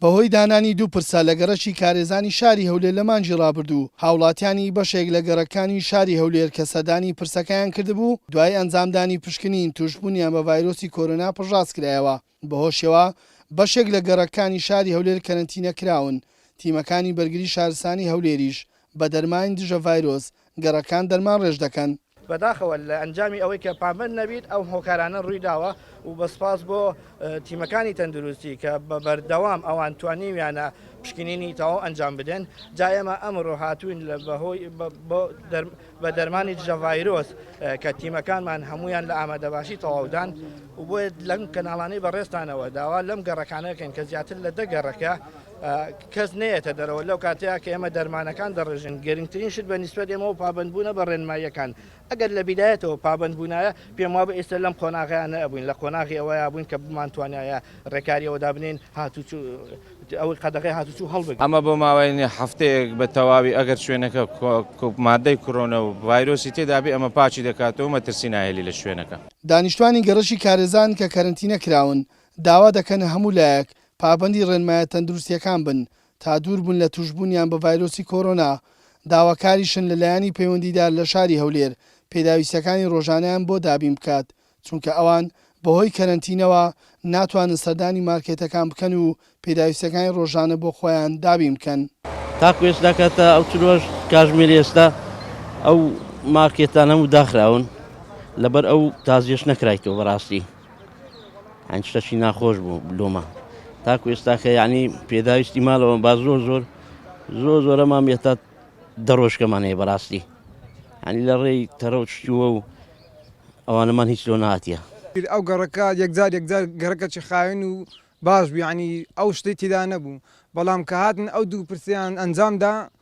بەهۆی دانانی دوو پرسە لە گەڕەکی کارێزانی شاری هەولێر لە مانگی ڕابردوو، هاوڵاتیانی بەشێک لە گەڕەککانی شاری هەولێر کە سەردانی پرسەکەیان کردبوو، دوای ئەنجامدانی پشکنین تووشبوونیان بە ڤایرۆسی کۆرۆنا پشتڕاست کرایەوە، بەهۆشیەوە بەشێک لە گەڕەککانی شاری هەولێر کەرەنتینە کراون، تیمەکانی بەرگری شارستانی هەولێریش بە دەرمانی دژە ڤایرۆس گەڕەکان دەرمانڕێژ دەکەن. بەداخەوە لە ئەنجامی ئەوەی کە پابەند نەبیت ئەو هۆکارانە ڕووی داوە و بە سپاس بۆ تیمەکانی تەندروستی کە بە بەردەوام ئەوان توانیویانە پشکنینی تەواو ئەنجام بدەن جا ئێمە ئەمڕۆ هاتووین لە بەهۆی بە دەرمانی دژە ڤایرۆس کە تیمەکانمان هەمویان لە ئامادەباشی تەواودان و بۆیە لەم کەناڵانەی بەڕێزتانەوە داوا لەم گەڕەکانەکەن کە زیاتر لە دە گەڕەکە کەس نەیەتە دەرەوە لەو کاتەیە کە ئێمە دەرمانەکان دەڕێژن گەرنگترین شت بە نیسبەت ئێمەوە پابندبوونە بە ڕێنماییەکان ئەگەر لە بیدایەتەوە پابندبوونایە پێم وابە ئێستا لەم قۆناغیان نەبووین لە قۆناغی ئەوەیە بووین کە بمانتوانایە ڕێکاریەوە دابنین هاتوچو ئەوەی قەدەغی هاتوچو هەڵبگرین ئەمە بۆ ماوەی هەفتەیەک بە تەواوی ئەگەر شوێنەکە مادەی کرۆنە و ڤایرۆسی تێدا بێ ئەمە پاکی دەکاتەوە مەترسی ناهێلی لە شوێنەکە. دانیشتوانی گەڕەکی کارێزان کە کەرەنتینە کراون داوا دەکەن هەموو لایەک پابەندی ڕێنمایە تەندروستییەکان بن تا دووربن لە تووشبوونیان بە ڤایرۆسی کۆرۆنا، داواکاریشن لە لایەنی پەیوەندیدار لە شاری هەولێر پێداویستییەکانی ڕۆژانەیان بۆ دابین بکات، چونکە ئەوان بەهۆی کەرەنتینەوە ناتوانن سەردانی مارکێتەکان بکەن و پێداویستییەکانی ڕۆژانە بۆ خۆیان دابین بکەن. تاکو ئێستا کە تا ئەو چل و هەشت کاژمێری ئێستا ئەو مارکێتانە هەموو داخراون، لەبەر ئەو تازیەش نەکرایتەوە بەڕاستی. هەند شتەچی ناخۆش بوو لۆمە تاکو ئێستاکە یعنی پێداویستی ماڵەوە با زۆر زۆر زۆر زۆرەمان بێتە دەڕۆژکەمان هەیە بەڕاستی هەنی لە ڕێی تەرە و چووە و ئەوانەمان هیچ لۆ ناتە ئەو گەڕەکە یەکجار یەکجار گەڕەکەچی خاوێن و باش بیانی ئەو شتی تیدا نەبوو بەڵام کە هاتن ئەو دوو پرسیان ئەنجامدا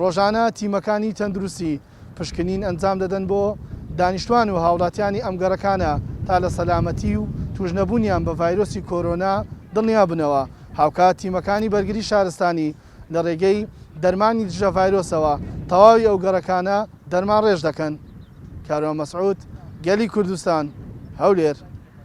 ڕۆژانە تیمەکانی تەندروستی پشکنین ئەنجام دەدەن بۆ دانیشتوان و هاوڵاتیانی ئەم گەڕەکانە تا لە سەلامەتی و تووشنەبوونیان بە ڤایرۆسی کۆرۆنا دڵنیا بنەوە، هاوکات تیمەکانی بەرگری شارستانی لە ڕێگەی دەرمانی دژە ڤایرۆسەوە تەواوی ئەو گەڕەکانە دەرمانڕێژ دەکەن. کاروان مەسعود، گەلی کوردستان، هەولێر.